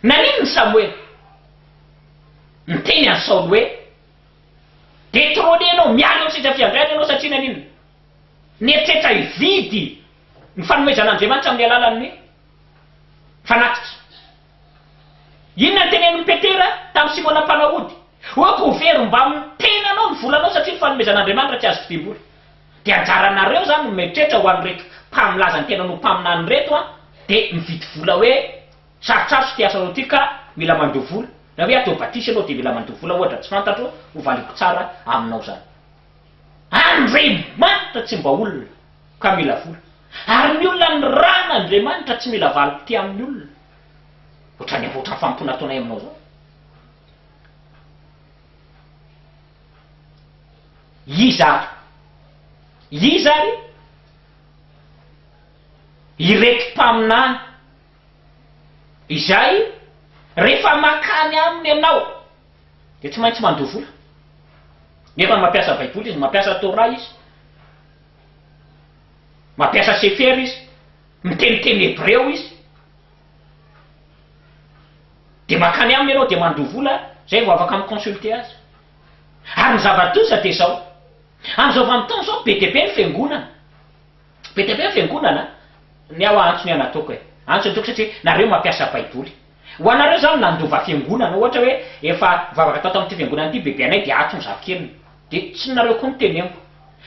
Naninona i Samoela niteny an'i Saoly hoe, Detrône ianao, miala eo amin'ny seza fiandrianana ianao, satria naninona? Nieritreritra hividy ny fanomezan'Andriamanitra amin'ny alalan'ny fanatitra. Inona no tenenin'i Petera tamin'i Simona mpanao ody? Hoe ko very mbamin'ny tenanao ny volanao satria ny fanomezan'Andriamanitra tsy azo tebim-bola. Dia anjaranareo izany no mieritreritra ho an'ireto mpamilaza ny tenany ho mpaminany ireto an, dia mividy vola hoe sarotsarotso ity asanao ity ka mila mandoa vola, na hoe atao batisa ianao dia mila mandoa vola ohatra tsy fantatro, hovaliako tsara aminao izany. Andriamanitra tsy mba olona. ka mila vola. Ary ny olona nirahana Andriamanitra tsy mila valim-pitia amin'ny olona. Ohatran'ny ohatran'ny fanompoana ataonay aminao izao. Iza ary? Iza ary? Ireto mpaminany izay rehefa makany aminy ianao dia tsy maintsy mandoa vola. Nefa mampiasa Baiboly izy, mampiasa Torah izy. Mampiasa sefera izy, miteny teny hebreo izy, dia mankany aminy ianao dia mandoa vola izay vao afaka mi-consulter azy. Ary ny zava-doza dia izao, amin'izao vanim-potoana izao be dia be ny fiangonana, be dia be ny fiangonana an! ny ahy ho'a antso ny ahy nataoko e! antso ny toko satria nareo mampiasa baiboly. Ho anareo izany nandova fiangonana ohatra hoe efa nivavaka tao tamin'ity fiangonana ity bebe anay dia ato ny zafikeliny dia tsy ny nareo koa no teneniko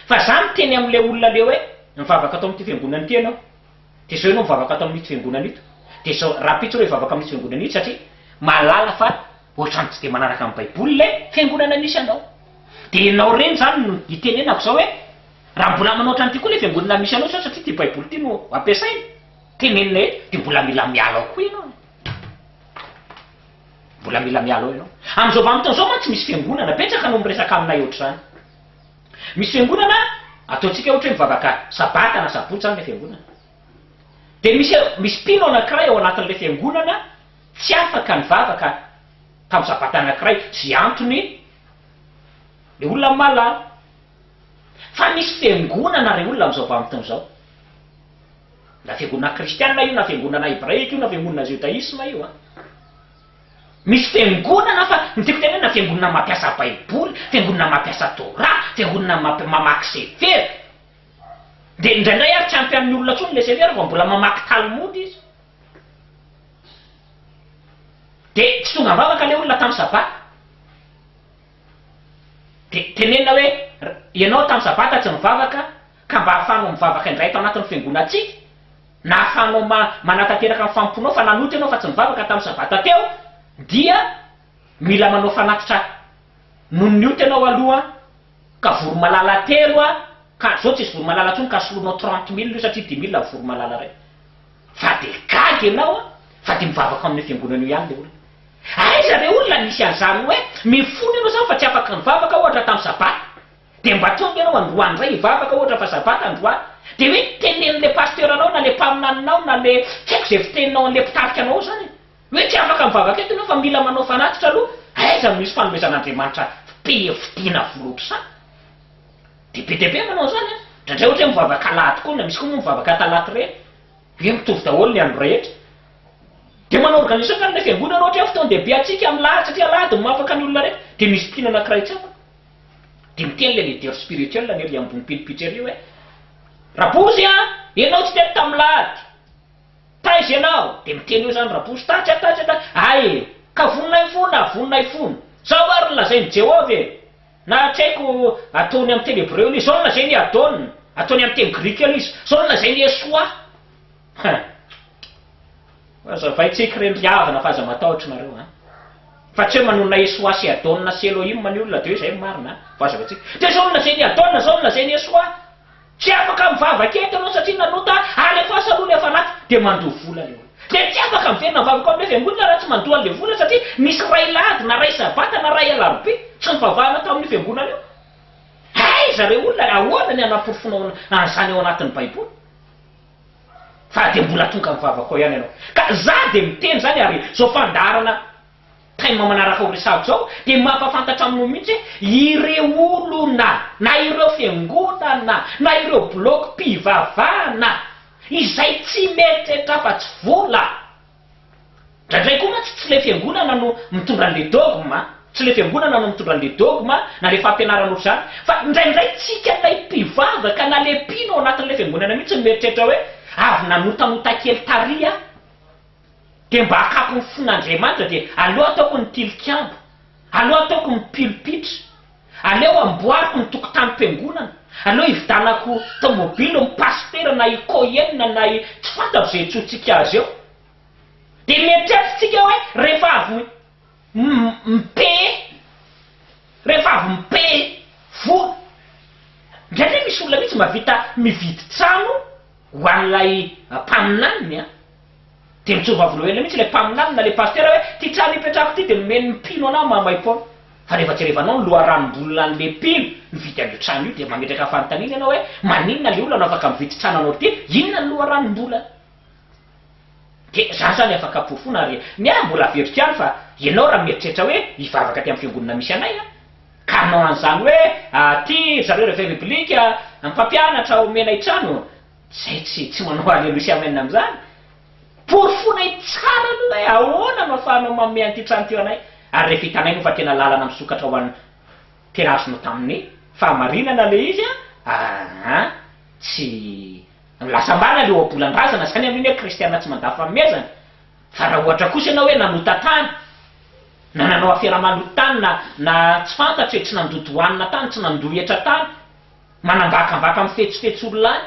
fa za miteny amin'ilay olona le hoe nivavaka tao amin'ity fiangonana ity ianao dia zao ianao mivavaka ato amin'ito fiangonana ito dia zao rahampitso reo hivavaka amin'ito fiangonana ito satria mahalala fa ohatrany tsy dia manaraka ny baiboly le fiangonana misy anao dia ianao reny izany no itenenako zao hoe raha mbola manao ohatrany ity koa le fiangonana misy anao zao satria ity baiboly ity no ampiasaina Tenenina eto dia mbola mila miala ao koa ianao e! Mbola mila miala ao ianao. Amin'izao vanim-potoana izao mantsy misy fiangonana, betsaka no miresaka aminay ohatr'izany. Misy fiangonana, ataontsika ohatra hoe mivavaka sabata na sabotsy izany ilay fiangonana. Dia misy misy mpino anankiray ao anatin'ilay fiangonana tsy afaka nivavaka tamin'ny sabata anankiray. Izay antony, ilay olona mahalala. Fa misy fiangonana ry olona amin'izao vanim-potoana izao. Na fiangonana kristiana io na fiangonana hebraika io na fiangonana jodaisma io an. Misy fiangonana fa ny tiako tenenina fiangonana mampiasa baiboly, fiangonana mampiasa torah, fiangonana mamp mamaky severa. Dia indraindray ary tsy ampy amin'ny olona intsony ilay severa fa mbola mamaky talmud izy. Dia tsy tonga am-bavaka ilay olona tamin'ny sabata. Dia tenenina hoe, Ianao tamin'ny Sabata tsy nivavaka, ka mba ahafahanao mivavaka indray ato anatin'ny fiangonantsika, na ahafahanao manatanteraka ny fanompoanao fa nanota ianao fa tsy nivavaka tamin'ny Sabata teo, dia mila manao fanatitra noho ny ota ianao aloha, ka vory malala telo, ka izao tsisy vory malala intsony ka soloinao trente mille io satria dimy mille vao vory malala iray. Fa de gaga ianao a! Fa de mivavaka ao amina fiangonana eo ihany le olona. Aiza re olona nisy an'zany hoe mifona ianao zany fa tsy afaka mivavaka ohatra tam sabata? De mba tonga ianao androany ndray hivavaka ohatra fa sabata androany? De hoe teneno le pasteur anao na le mpaminaninao na le tsy haiko ze fiteninao anle mpitarika anao ao zany e! Hoe tsy afaka mivavaka eto ianao fa mila manao fanatitra aloha? Aiza no misy fanomezan'Andriamanitra fpfidiana vola otrzany? Dia be dia be manao an'izany an! Indraindray ohatra hoe mivavaka alahady koa, na misy koa moa mivavaka talata ireny. Hoe mitovy daholo ny andro rehetra. Dia manao organisation angamba ilay fiangonana raha ohatra hoe fotoan-dehibe antsika amin'ny lahady satria alahady no mahafaka ny olona rehetra. Dia misy mpino anankiray tsy afaka. Dia miteny ilay leader spirituel ny ery ambony mpino pitreria hoe, Rabouzy an! Ianao tsy teto tamin'ny lahady. Taiza ianao? Dia miteny eo izany Rabouzy, Tatsy an, tatsy an, tatsy an. Hay e! Ka voninay fona, voninay fona. Izao ary no lazain'i Jehovah e! Na tsy haiko, ataony amin'ny teny hebreo aloha izy, sao nolazainy i Adon, ataony amin'ny teny grika aloha izy, sao nolazainy Yeshua. Hein. Hazavaintsika ireny ry havana fa aza matahotra nareo an. Fa tsy hoe manonona Yeshua sy Adon sy Elohim ny olona de hoe zay no marina an. Vao hazavaintsika. De sao nolazainy i Adon, sao nolazainy Yeshua. Tsy afaka mivavaka eto ianao satria nanota ary rehefa asa aloha ilay fanaty dia mandoa vola ilay olona. Dia tsy afaka miverina mivavaka ao amin'ilay fiangonana raha tsy mandoa an'ilay vola satria misy ray lahady na ray sabata na ray alarobia tsy nivavahana tao amin'io fiangonana io. Aiza re olona ahoana ny hanaporofoanao an'izany ao anatin'ny baiboly fa dia mbola tonga mivavaka ao ihany ianao. Ka za dia miteny izany ary izao fandaharana. Time manaraka ao resahako zao dia mampafantatra aminao mihitsy hoe ireo olona na ireo fiangonana na ireo bloc mpivavahana izay tsy mieritreritra afa tsy vola ndraindray koa mantsy tsy le fiangonana no mitondra anle dogme tsy le fiangonana no mitondra anle dogme na le fampianarana otrzany fa ndraindray tsika lay mpivavaka na le mpino ao anatinle fiangonana mihitsy no mieritreritra hoe avy nanotanota kely tary aho dia mba hakapo ny fon'Andriamanitra dia aleo ataoko ny tilikambo, aleo ataoko ny pilpitra, aleo amboariko ny tokontanim-piangonana, aleo hividanako tomobilo ny pasitera na i Cohen na i tsy fantatro izay antsointsika azy eo. Dia mieritreritrtsika hoe rehefa avy mi-payer, rehefa avy mi-payer vola, indraindray misy olona mihitsy mahavita mividy trano ho an'ilay mpaminaniny an! Dia mijoro vavolombelona mihitsy ilay mpaminany na ilay pasitera hoe, ity trano ipetrahako ity dia nomeny ny mpino anah mahamaimpaona. Fa rehefa jerevanao ny loharanom-bolon' an'ilay mpino nividy an'io trano io dia mametraka fanontaniana ianao hoe, maninona ilay olona no afaka mividy trano anao ity? Inona ny loharanom-bolany? Dia izaho izany afaka porofoina ary ny ahy mbola averiko ihany fa ianao raha mieritreritra hoe hivavaka aty amin'ny fiangonana misy anay an! ka hanao an'izany hoe, aty ry zareo Réveil Biblique mpampianatra omena i trano, Zay tsy tsy manao Alléluia sy Amen amin'izany. Porofonay tsara aloha hoe ahoana no afahanao manome an'ity trano ity ho anay ary rehefa hitanay moa fa tena lalana misokatra ho an'ny tena azonao tamin'ny fahamarinana ilay izy an, aa tsy lasa marina ilay ohabolan-drazana izany amin'iny hoe kristiana tsy mandà fahomezana. Fa raha ohatra kosa ianao hoe nanota tany, na nanao afera maloto tany, na na tsy fantatro e, tsy nandoto hanina tany, tsy nandoa hetra tany, manambakambaka mifetsifetsy olona any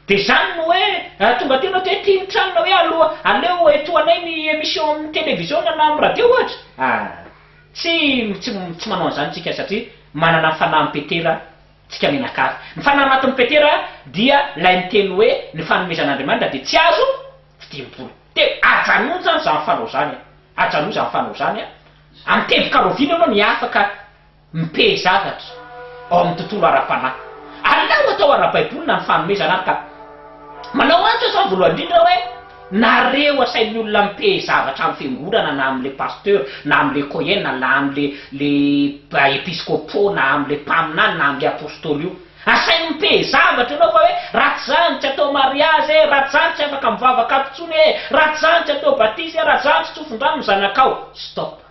de zany no hoe raha tonga teo enao de aty ny tranona hoe aloha aleo etohanay ny emission amin'ny television na amin'ny radio ohatra ah tsy tsy tsy manao an'izany tsika satria manana ny fanahy mipetera tsika mianakavy ny fanahy maty mipetera dia lay miteny hoe ny fanomezan'Andriamanitra de tsy azo fidimpoana de ajanony zany zany fanao zany an ajanony zany fanao zany an amin'ny teboka rahoviana enao ny afaka Mipéhy zavatra ao amin'ny tontolo ara-panahy. Alao atao ara-baiboly na ny fanomezana ary ka manao antso aho zany voalohany indrindra hoe nareo asain'ny olona mipéhy zavatra amin'ny fiangonana na amin'ilay pasteur na amin'ilay cohen na amin'ilay le episcopo na amin'ilay mpaminany na amin'ilay apostoly io. Asainy mipéhy zavatra ianao fa hoe ratsy zany tsy atao mariazy e, ratsy zany tsy afaka mivavaka ato intsony e, ratsy zany tsy atao batisa e, ratsy zany tsy tsofin-drano ny zanakao. Stop.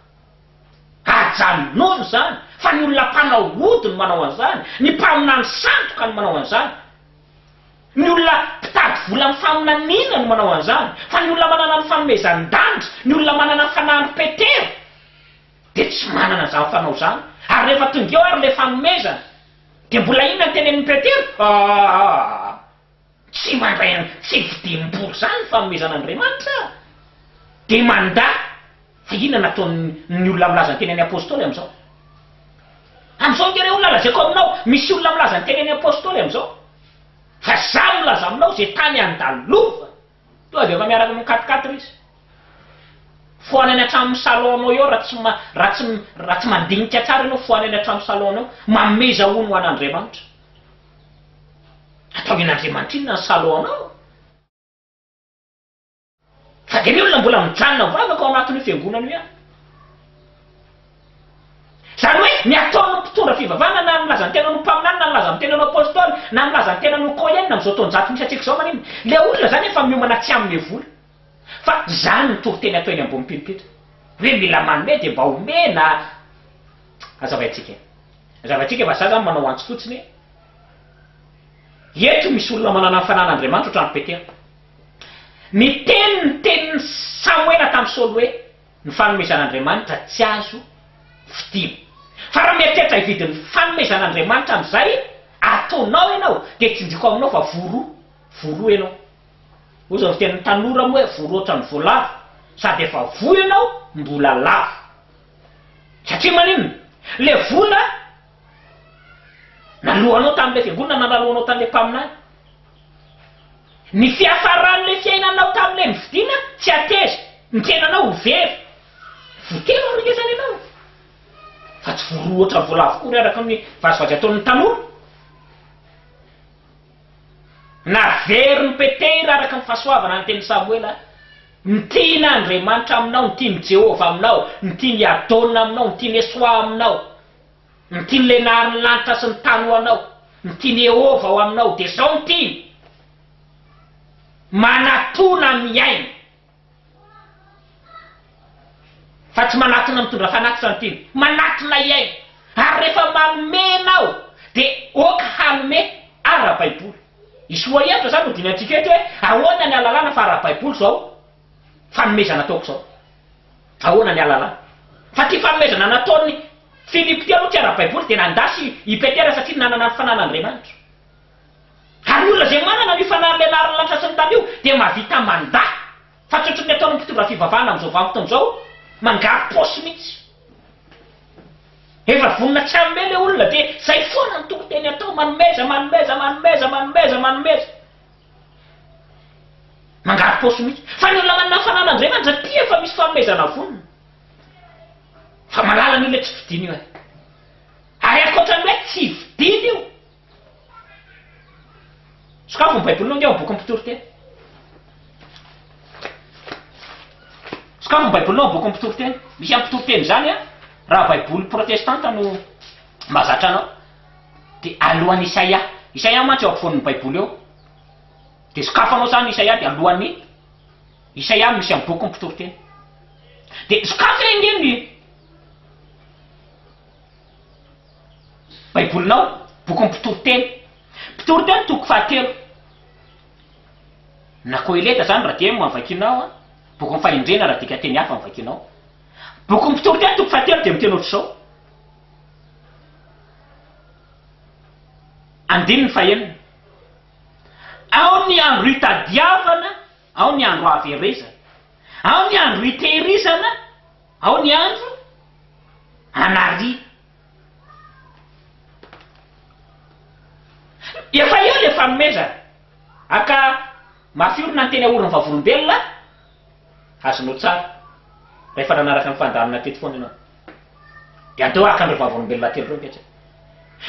Ajanony izany fa ny olona mpanao ody no manao an'izany, ny mpaminany sandoka no manao an'izany, ny olona mpitady vola amin'ny faminaniana no manao an'izany, fa ny olona manana ny fanomezan-dandry, ny olona manana fanamby Petera dia tsy manana izany fanao izany, ary rehefa tonga eo ary ilay fanomezana dia mbola inona no tenenin'i Petera? Aa! Tsy mandray ny tsy vidim-bola izany ny fanomezan'Andriamanitra dia mandà. Fa inona no ataon'ny olona milaza ny teny an'i Apôstôly amin'izao? Amin'izao nge re olona lazaiko aminao, misy olona milaza ny teny an'i Apôstôly amin'izao, fa izaho milaza aminao izay tany andalovany, tonga dia efa miaraka amin'ny quatre quatre izy. Fohana any an-tranon'ny salon-nao eo raha tsy raha tsy raha tsy mandinika tsara ianao, fohana any an-tranon'ny salon-nao, mameza hono ho an'Andriamanitra. Ataovin' Andriamanitrinona ny Saloanao? Fa dia ny olona mbola mijanona mivavaka ao anatin'io fiangonana io ihany. Izany hoe ny ataon'ny mpitondra fivavahana na milaza ny tenany ho mpaminany na milaza ny tenany ho apôstôly na milaza ny tenany ho kohen amin'izao taonjato misy antsika izao maninona? Ilay olona izany efa miomana tsy hanome vola. Fa izany no toriteny atao eny ambony pulpit hoe mila manome dia mba omena Azavaintsika e! Azavaintsika fa za zany manao antso fotsiny hoe eto misy olona manana ny Fanahin' Andriamanitra otrany Petera miteny ny tenin'i Samoela tamin'i Saoly hoe ny fanomezan' Andriamanitra tsy azo vidiana fa raha mieritreritra hividy ny fanomezan' Andriamanitra amin'izay ataonao ianao dia tsinjoko aminao fa voa roa voa roa ianao Ozy avy dia ny tanora moa hoe vory ohatran'ny voalavo sady efa voa ianao mbola lavo satria maninona? ilay vola naloanao tamin'ilay fiangonana na naloanao tamin'ilay mpaminany ny fiafaran'ilay fiainanao tamin'ilay nividiana tsy hateza ny tenanao ho very voatery haharegezana ianao fa tsy vory ohatran'ny voalavo akory araka ny vazivazy ataon'ny tanora Naverin'i Petera araka ny fahasoavana ny tenin'i Samoela, Ny tian'Andriamanitra aminao, ny tian'i Jehovah aminao, ny tian'i Yadona aminao, ny tian'i Esoà aminao, ny tian'ny lenarin'ny lanitra sy ny tany ho anao, ny tian'i Iehovah ho aminao, dia izao ny tiany, Manatòna miaina. Fa tsy manatona mitondra fanatitra ny tiany. Manatona hiaina. Ary rehefa manome ianao dia ok hanome ara-baiboly. I Soahevitra izany no dinihantsika eto hoe ahoana ny alalana fa ara-baiboly izao fanomezana ataoko izao. Ahoana ny alalana. Fa ity fanomezana nataon'i Filipo ity aloha tsy ara-baiboly dia nandà sy i Petera satria nanana ny fanan'Andriamanitra. Ary ny olona izay manana an'io fanahin'ny Lehilaharan'ny lanitra sy ny tany io dia mahavita mandà, fa tsy ohatran'ny ataon'ny mpitondra fivavahana amin'izao vanim-potoana izao, mangary paosy mihitsy. Rehefa vonona tsy hanome ilay olona dia izay foana ny toriteny atao, manomeza, manomeza, manomeza, manomeza, manomeza. Mangary paosy mihitsy. Fa ny olona manana ny fanahin'i Andriamanitra tia efa misy fanomezana vonona. Fa malala an'io ilay tsy fidiny io e. Ary ankoatran'ny hoe tsy fidiny io, Sokafy ny Baibolinao ange ao amin'ny bokin'ny Mpitoriteny. Sokafy ny Baibolinao ao amin'ny bokin'ny Mpitoriteny. Misy amin'ny Mpitoriteny izany an, raha Baiboly protestanta no mahazatra anao. Dia alohan'ny Isaia. Isaia mantsy eo ampovoan'ny Baiboly eo. Dia sokafanao izany Isaia dia alohan'ny Isaia no misy amin'ny bokin'ny Mpitoriteny. Dia sokafy re ange ny Baibolinao, Bokin'ny Mpitoriteny, Mpitoriteny toko fahatelo, na Koheleta izany raha dia no vakianao an, Bokin'ny Fahendrena raha dikan-teny hafa no vakianao. Bokin'ny Mpitoriteny toko fahatelo dia miteny ohatr'izao, andininy fahenina, Ao ny andro hitadiavana, ao ny andro haverezana, ao ny andro hitehirizana, Ao ny andro anary. Efa eo le fanomezana. Aka mafy orina ny teny aorin'ny vavolombelona azonao tsara. Rehefa nanaraka ny fandaminana teto foana ianao. Dia andao haka an'ireo vavolombelona telo ireo mipetraka.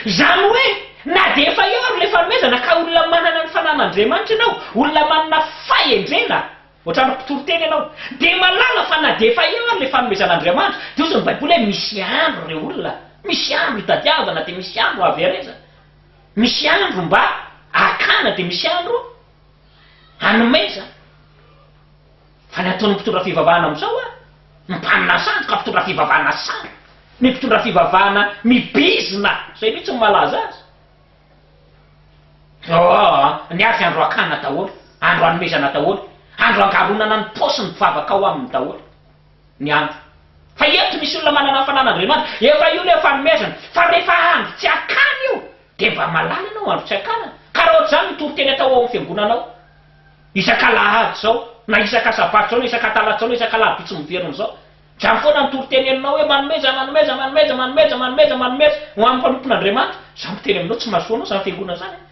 Izany hoe na dia efa eo ary le fanomezana ka olona manana ny fananan' Andriamanitra ianao, olona manana fahendrena, Ohatran'ny mpitoriteny ianao. Dia mahalala fa na dia efa eo ary ilay fanomezan'Andriamanitra, dia hozy ny Baiboly hoe misy andro ireo olona, misy andro hitadiavana dia misy andro haverezana, misy andro mba hakana dia misy andro hanomezana. Fa ny ataon'ny mpitondra fivavahana amin'izao an, ny mpanana sandoka mpitondra fivavahana sandoka, ny mpitondra fivavahana mibizina, izay mihitsy no malaza azy. Ôôôh ny azy andro hakana daholo, andro hanomezana daholo, andro hangaronana ny paosy ny mpivavaka ao aminy daholo ny andro. Fa eto misy olona manana ny fananan'Andriamanitra, efa io ilay fanomezana, fa rehefa andro tsy hakana io dia mba mahalala ianao andro tsy hakana, karaha ohatr'izany ny toriteny atao ao amin'ny fiangonana ao, isak'alahady izao, na isak'asabato izao, na isak'atalatsy izao, na isak'alarobitsy miverina izao. Jano foana ny toriteny henonao hoe manomeza, manomeza, manomeza, manomeza, manomeza, manomeza ho an'ny mpanompon'Andriamanitra. Izaho miteny aminao, tsy mahasoa anao izany fiangonana izany an!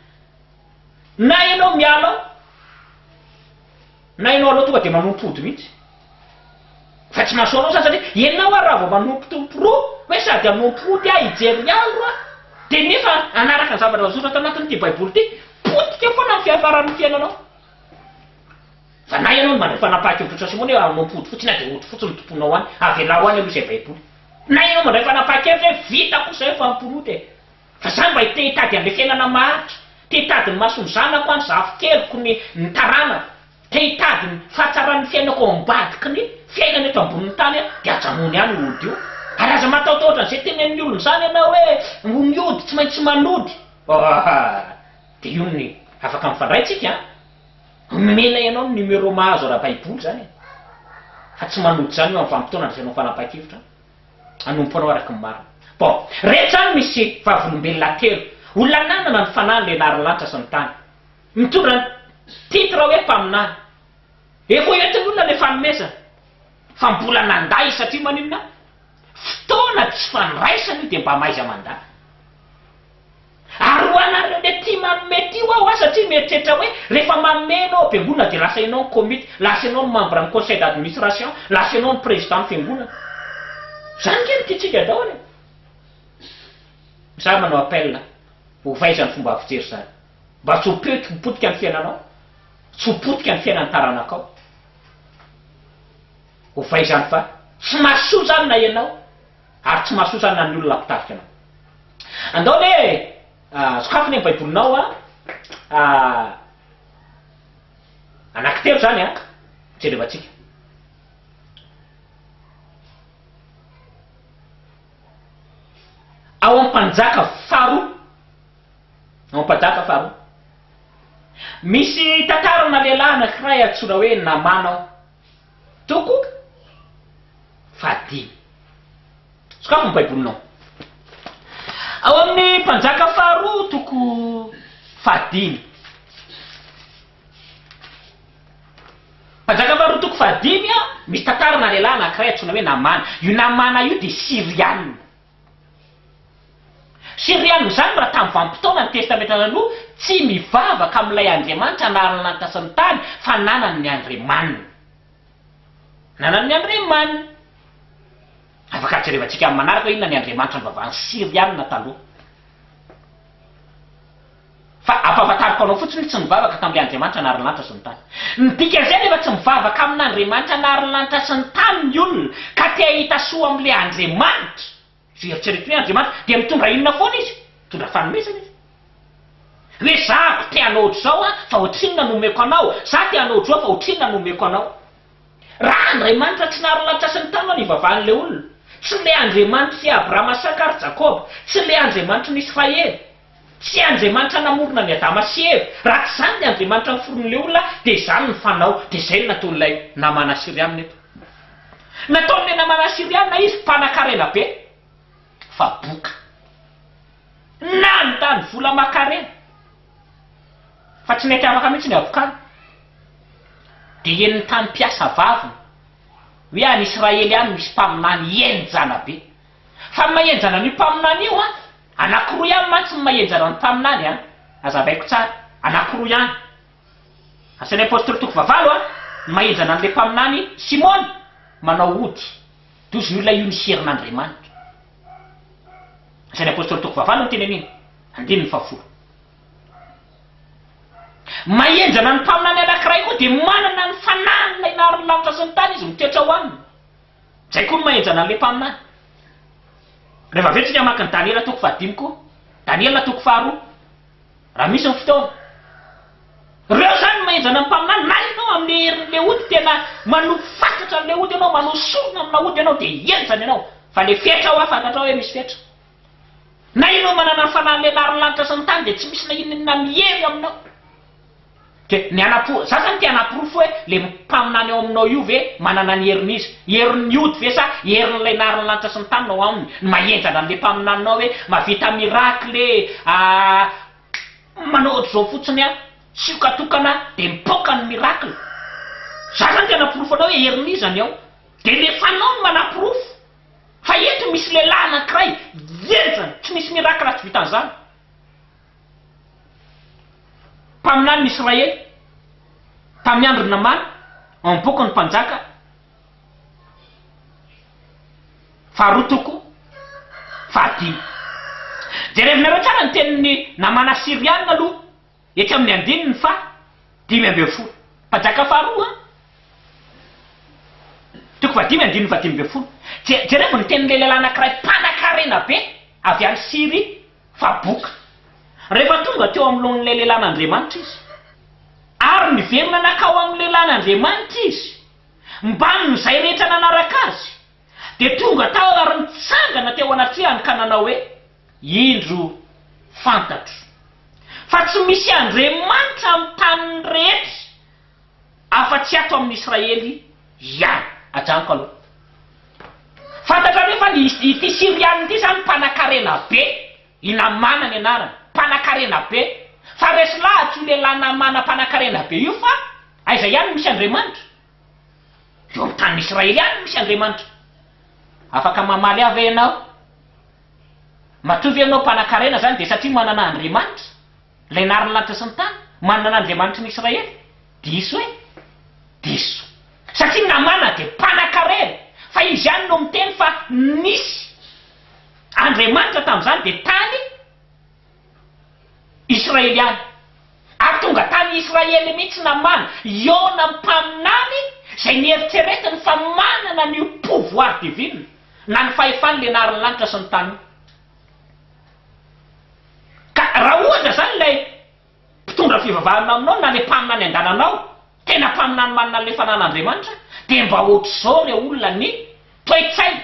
Na ianao miala ao, na ianao alao tonga dia manompo ody mihitsy. Fa tsy mahasoa anao izany satria ianao ary raha vao manompotompo roa, hoe sady hanompo ody aho, hijery andro aho, dia nefa hanaraka ny zavatra voasoratra tao anatin'ity Baiboly ity, potika foana ny fiafaran'ny fiainanao. Fa na ianao no mandray fanapahan-kevitr'i Jesoa Simona hoe anonoko hody fotsiny aho dia hody fotsiny no tomponao any, avelao any aloha izay Baiboly. Na ianao mandray fanapahan-kevitra hoe vitako kosa izay fa mpiroa dia. Fa izaho mba te hitady an'ilay fiainana maharitra, te hitady ny mason'ny zanako any, zafikeliko, ny ny taranako, te hitady ny fahatsaran'ny fiainako ao ambadiky ny fiainana eto ambonin'ny tany aho, dia ajanony any io hody io. Ary aza matahotahotra an'izay tenenin'ny olona izany ianao hoe ho ny hody tsy maintsy manody. Ohh. Dia io ny afaka mifandray tsika an! Omena ianao ny numéro mahazo ara-baiboly izany e! Fa tsy manojo izany eo amin'ny vanim-potoana andraisanao fanapahan-kevitra an! Hanompo anao araka ny marina. Bon, reto izany misy vavolombelona telo, olona nanana ny fanahy nilenarin'ny lanitra sy ny tany. Mitondra ny titre hoe mpaminany. Efa ho entin'ny olona ilay fanomezana. Fa mbola nandà izy satria maninona? Fotoana tsy fandraisana io dia mba mahaiza mandà. Ary ho anareo le tia manome tia hoa hoa satria mieritreritra hoe rehefa manome enao be olona de lasa enao ny komity, lasa enao ny membre ny conseil d'administration, lasa enao ny président ny fiangonana. Zany nge no tiantsika daholo e. Za manao appel a, ovay zany fomba fijery zany. Mba tsy ho potika ny fiainanao, tsy ho potika ny fiainan'ny taranakao. Ovay zany fa tsy mahasoa zany na enao. Ary tsy mahasosa na ny olona mpitarika anao. Andao anie e! sokafy anie ny Baibolinao a! anankitelo izany a! jerevantsika. Ao amin'ny mpanjaka faharoa, ao mpanjaka faharoa, misy tantarana lehilahy anankiray antsoina hoe Namana ao. Tokoka fahadimy. Sokafy ny Baibolinao. Ao amin'ny Mpanjaka faharoa toko fahadimy. Mpanjaka faharoa toko fahadimy, misy tantarana lehilahy anankiray antsoina hoe Namana. Io Namana io dia Syriana. Siriana amin'izany raha tamin'ny vanim-potoana ny Testamenta Taloha, tsy mivavaka amin'ilay Andriamanitra anaran'ny lanitra sy ny tany fa nanany ny andriamaniny. Nanany ny andriamaniny. Afaka hajerevantsika amin'ny manaraka hoe inona ny andriamanitra nivavahan'ny Siriana taloha. Fa ampahafantariko anao fotsiny tsy nivavaka tamin'ilay Andriamanitra nahary ny lanitra sy ny tany. Ny dikan'izay anefa tsy mivavaka amin'Andriamanitra nahary ny lanitra sy ny tany ny olona ka te hahita soa amin'ilay Andriamanitra. Izay eritreretiny hoe Andriamanitra dia mitondra inona foana izy? Mitondra fanomezana izy. Hoe izaho te hanao ohatr'izao aho fa ohatrinona no omeko anao, izaho te hanao ohatr'izao fa ohatrinona no omeko anao. Raha Andriamanitra tsy nahary ny lanitra sy ny tany no nivavahan'ilay olona, tsy ilay Andriamanitry Abrahama, Isaka ary Jakoba, tsy ilay Andriamanitry ny Israely, Tsy Andriamanitra namorona an'i Adama sy Eva. Raha tsy izany ny Andriamanitra niforonin'ilay olona dia izany ny fanao. Dia izay no nataon'ilay Namana Asyriana eto. Nataon'ilay Namana Asyriana izy mpanan-karena be fa boka. Nandany vola aman-karena fa tsy nety afaka mihitsy ny havokany. Dia henon'ny tany mpiasa vaviny hoe any Israely any misy mpaminany henjana be. Fa ny mahenjana an'io mpaminany io an! Anakiroa ihany mantsy ny mahenjarany mpaminany a! Azavaiko tsara, anakiroa ihany. Asan'ny Apostoly toko fahavalo a, ny mahenjana an'ilay mpaminany Simona manao ody, dozon'ny olona io nisy herin'Andriamanitra. Asan'ny Apostoly toko fahavalo ny tenenina, andininy fahafolo. Mahenjana ny mpaminany anakiray koa dia manana ny fanahiny ilay naharin'ny lanitra sy ny tany izy mitoetra ao aminy. Izay koa no maha-henjana an'ilay mpaminany. Reva avy eo tsika maka ny Daniela toko fahadimy koa. Daniela toko faharoa. Raha misy ny fotoana. Reo zany no maha-henjana ny mpaminany. Na ianao amin'ny herin'ilay ody tena manopy fatratra an'ilay ody ianao, manao sorona amina ody ianao dia henjana ianao. Fa le fetra hoa fantatrao hoe misy fetra. Na ianao manana ny fanahin'ilay narin'ny lanitra sy ny tany dia tsy misy na inona inona mihery aminao. Dia ny hanapo, za zany te hanaporofo hoe le mpaminany ao aminao io ve manana ny herin'iza? Herin'ny ody ve sa herin'ilay nahary ny lanitra sy ny tany no ao aminy? Ny mahenjana an'le mpaminaninao hoe mavita miracle manao otrzao fotsiny an, tsioka tokana dia mipoaka ny miracle. Za zany te hanaporofo anao hoe herin'iza ny ao. Dia le fanao no manaporofo. Fa eto misy lehilahy anakiray hihenjana, tsy misy miracle tsy vitan'izany. Mpaminany ny Israely tamin'ny andron'i Namàna, ao amin'ny Bokin'ny Mpanjaka, faharoa toko fahadimy. Jerevinareo tsara ny tenin'i Namàna Asyriana aloha, etsy amin'ny andininy faha dimy ambin'ny folo. Mpanjaka faharoa an! Toko fahadimy andininy fahadimy ambin'ny folo. Je, jerevo ny tenin'ilay lehilahy anankiray mpanankarena be avy any Syria. Fa boka, rehefa tonga teo amlohan'ilay lelan'Andriamanitra izy, ary niverina nakao amin'ny lelan'Andriamanitra izy, mbamin'izay rehetra nanaraka azy, dia tonga tao ary nitsangana teo anatrehany ka nanao hoe, Indro, fantatro, fa tsy misy Andriamanitra amin'ny tany rehetra, afa-tsy ato amin'ny Israely ihany. Ajanoko aloha. Fantatra ve fa ity Syriana ity izany mpanankarena be, i Namàna ny anarany, mpanankarena be. Fa resy lahatra io lehilahy Namàna mpanankarena be io fa aiza ihany no misy Andriamanitra? Eo amin'ny tanin'ny Israely ihany no misy Andriamanitra. Afaka mamaly ahy ve ianao? Matoa ve ianao mpanankarena izany dia satria manana Andriamanitra? Ilay nary ny lanitra sy ny tany, manana an'Andriamanitry ny Israely? Diso e! Diso. Satria Namana dia mpanakarena, fa izy ihany no miteny fa nisy Andriamanitra tamin'izany dia tany Israely ihany. Ary tonga tany Israely mihitsy Namana, Iona mpaminany, izay nieritreretiny fa manana an'io pouvoir divine, na ny fahefan'ilay nary ny lanitra sy ny tany io. Ka raha ohatra izany ilay mpitondra fivavahana aminao na ilay mpaminany angananao tena mpaminany manana an'ilay fananan'Andriamanitra dia mba ohatr'izao ilay olona ny toe-tsainy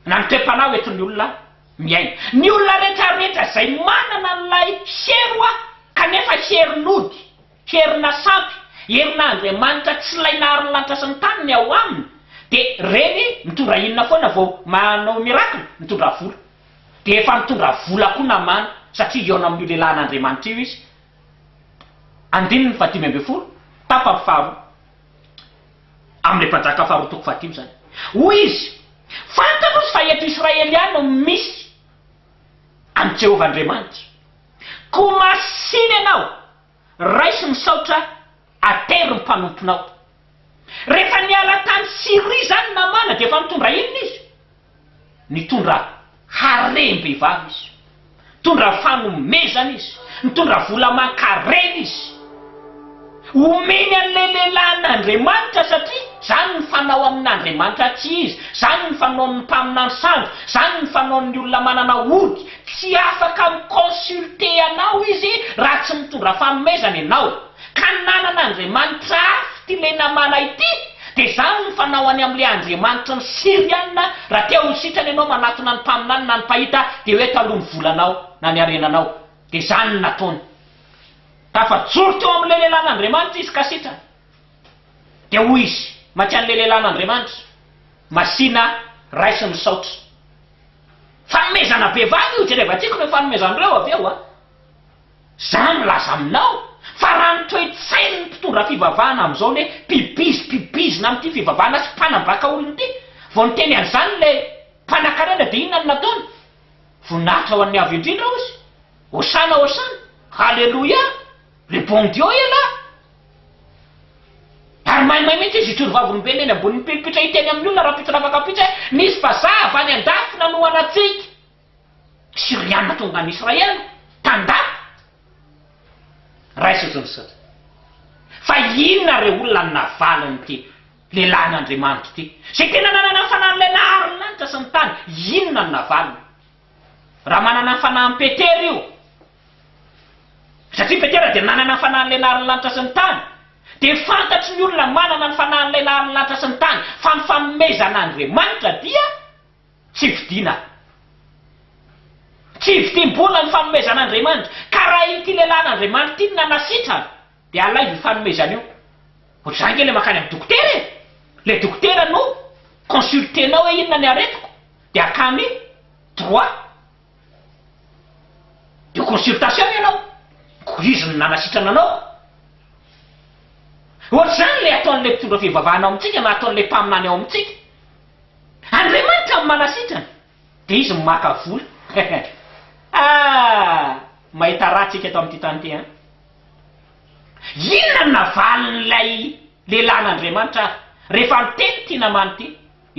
na ny toe-panahy hoentin'ny olona miaina. Ny olona retraretra izay manana an'ilay hery hoa kanefa hery nody. Herina sampy, herina Andriamanitra tsy ilay nahary ny lanitra sy ny tany ny ao aminy, dia reny mitondra inona foana vao manao miracle? Mitondra vola. Dia efa nitondra vola koa namana, satria hihaona amin'io lehilahin'Andriamanitra io izy. Andininy faha dimy ambin'ny folo, tapany faharoa. Amin'ilay mpanjaka faharoa toko fahadimy izany. Hoy izy, Fantatro izy fa eto Israely ihany no misy an'i Jehovah Andriamanitra. Koa masina ianao. Raiso misaotra attery ny mpanomponao. Rehefa niala tany Syrie izany Namàna dia efa nitondra inona izy? Nitondra harem-behivavy izy. Nitondra fanomezana izy. Nitondra vola aman-karena izy. Omeny an'ilay lehilahy an'Andriamanitra satria izany ny fanao amin'Andriamanitra tsy izy. Izany ny fanaon'ny mpaminany sandoka. Izany ny fanaon'ny olona manana ody. Tsy afaka mi-consulter anao izy raha tsy mitondra fanomezana ianao. Ka ny nanana andriamanitra hafa ity ilay Namàna ity, dia izany no fanaoany amin'ilay andriamanitry ny Syriana, raha te ho sitrana ianao manatona ny mpaminany na ny mpahita, dia hoe taloha ny volanao na ny harenanao. Dia izany no nataony. Tafajoro teo amin'ilay lehilahin'Andriamanitra izy ka sitrana. Dia hoy izy, Mank'an'ilay lehilahin'Andriamanitra, Masìna, raiso ny saotra. Fanomezana be vava io, jereva tiako ireo fanomezan'ireo avy eo a! Za milaza aminao fa raha ny toe-tsain'ny mpitondra fivavahana amin'izao ny hoe mpibiz mpibizina amin'ity fivavahana sy mpanambaka olona ity vao niteny an'izany ilay mpanakarena dia inona no nataony? Voninahitra ho an'ny Avo Indrindra hozy! Hosana hosana! Haleloia! Le bon Dieu ialahy! Ary maimay mihitsy izy hijoro vavolombelona eny ambonin'ny pilpitra hiteny amin'ny olona rahampitso lava kapitsa hoe misy vazaha avy any andafy nanohana antsika! Syriana tonga any Israel tanda! Raiso tontosaina! Fa inona re olona no navalin'ity lehilahin'Andriamanitra ity? Izay tena nanana ny fanahin'ilay nahary ny lanitra sy ny tany, inona no navaliny? Raha manana ny fanahin'i Petera io, satria Petera dia nanana ny fanahin'ilay nahary ny lanitra sy ny tany, dia fantatry ny olona manana ny fanahin'ilay nahary ny lanitra sy ny tany fa ny fanomezan'Andriamanitra dia tsy vidiana. Tsy vidim-bola ny fanomezan'Andriamanitra, ka raha ity lehilahin'Andriamanitra ity no nanasitrana, Dia alaivo io fanomezana io. Ho za nge le makany am dokotera e! Le dokotera no consulter-nao hoe inona ny aretiko dia akany droit de consultation ianao. Ko izy no nanasitrana anao. Ohatr'izany le ataon'le mpitondra fivavahana ao amintsika na ataon'le mpaminany ao amintsika. Andriamanitra no manasitrana dia izy no maka vola. Ah! Mahita raha tsika eto amin'ity tany ity an! Inona no navalin'ilay lehilahin'Andriamanitra rehefa niteny ity Namàna ity,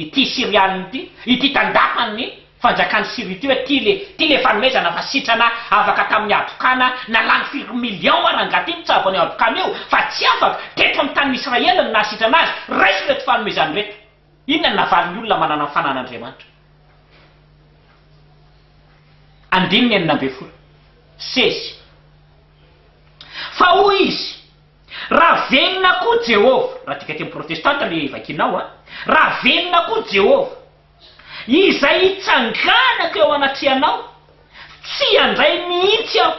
ity Syrianina ity, ity tandakan'ny fanjakan'i Syria ity hoe, Ty le, ty le fanomezana fa sitrana afaka tamin'ny habokana, na lany firy millions ara angaha ty mitsabo an'io habokana io, fa tsy afaka, teto amin'ny tanin'Israely no nahasitrana azy, raiso ireto fanomezana ireto. Inona no lavalin'ny olona manana ny fanan'Andriamanitra? Andininy enina ambin'ny folo, CC, Fa hoy izy, Raha velona koa Jehovah, raha adika teny protestanta ilay vakiana ao an, raha velona koa Jehovah, izay hitsanganako eo anatrehanao, tsy handray mihitsy aho,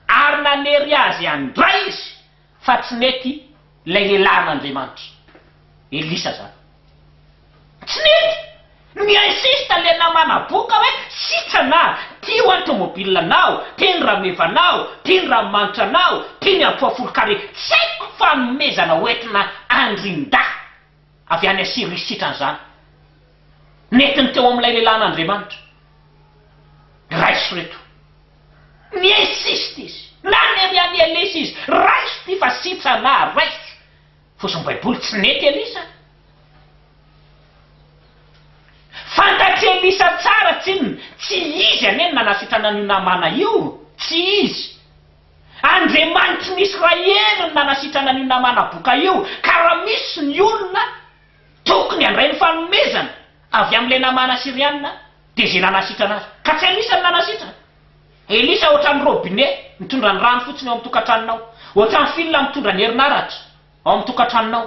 ary nanery azy handray izy, Fa tsy nety ilay lelahin'Andriamanitra Elisa zany. Tsy nety! Ni-insiste ilay namana boka hoe sitrana, ty ho'a ny tomobile nao, ty ny rameva nao, ty ny ranomanitra nao, ty ny ampoa folo carré, tsy haiko fanomezana hoentina andrin-dahy. avy any Asyria sitran'izany. Nentiny teo amin'ilay lehilahin'Andriamanitra. Raiso reto. Ni-insiste izy. Na ny an'i an'i Elisa izy, raiso ity fa sitrana, raiso. Fosin'ny Baiboly, tsy nety Elisa. Fantatr'i Elisa tsara, tsinona. Tsy izy anie no nanasitrana an'io Namàna io. Tsy izy. Andriamanitry ny Israely no nanasitrana an'io Namana Boka io, ka raha misy ny olona tokony handray ny fanomezana avy amin'ilay Namana Syriana dia izay nanasitrana azy, ka tsy Elisa no nanasitrana. Elisa ohatran'ny robine mitondra ny rano fotsiny ao amin'ny tokantranonao, ohatran'ny fil mitondra ny herinaratra ao amin'ny tokantranonao.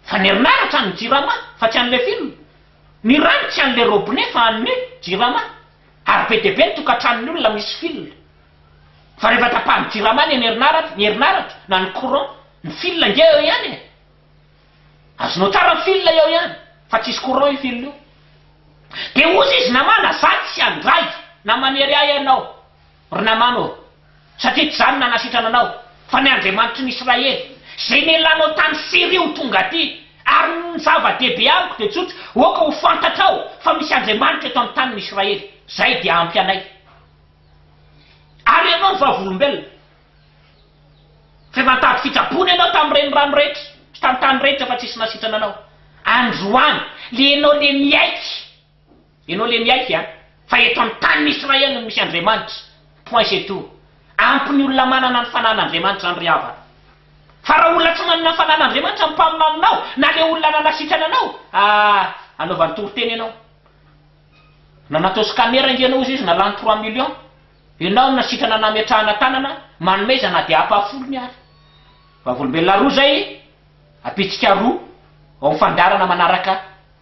Fa ny herinaratra an'ny jirama fa tsy an'ilay fil, ny rano tsy an'ilay robine fa an'ny jirama, ary be dia be ny tokantranon'ny olona misy fil fa rehefa tapahan'ny jirama anie ny herinaratra, ny herinaratra na ny courant, ny fil ange eo ihany e! Azonao tsara ny fil eo ihany fa tsisy courant io fil io. Dia hozy izy namana za tsy handray na manery ahy ianao. Ry Namàna ô, satria tsy izaho no nanasitrana anao, fa ny Andriamanitry ny Israely, izay nela anao tany Syria ho tonga aty, ary ny zava-dehibe amiko dia tsotra, aoka ho fantatrao fa misy Andriamanitra eto amin'ny tanin'ny Israely, izay dia ampy anay. Ary ianao ny Vavolombelona, izay nantady fitsaboana ianao tamin'ny renirano rehetra sy tamin'ny tany rehetra fa tsy nisy nasitrana anao, androany, ilay ianao ilay miaiky Ianao le miaiky a! Fa eto amin'ny tanin'i Israely no misy Andriamanitra. Point c'est tout. Ampy ny olona manana ny fanan'Andriamanitra zany ry havana. Fa raha olona tsy manana ny fanan'Andriamanitra ny mpaminaninao na le olona nanasitrana anao, ah! anaovany toriteny ianao. Na nataosy camera ange ianao ozy izy na lany trois millions, ianao no nasitrana nametrahana tanana, manome iza na dia apa folony ary. Vavolombelona roa zay, apitsika roa ao amin'ny fandaharana manaraka.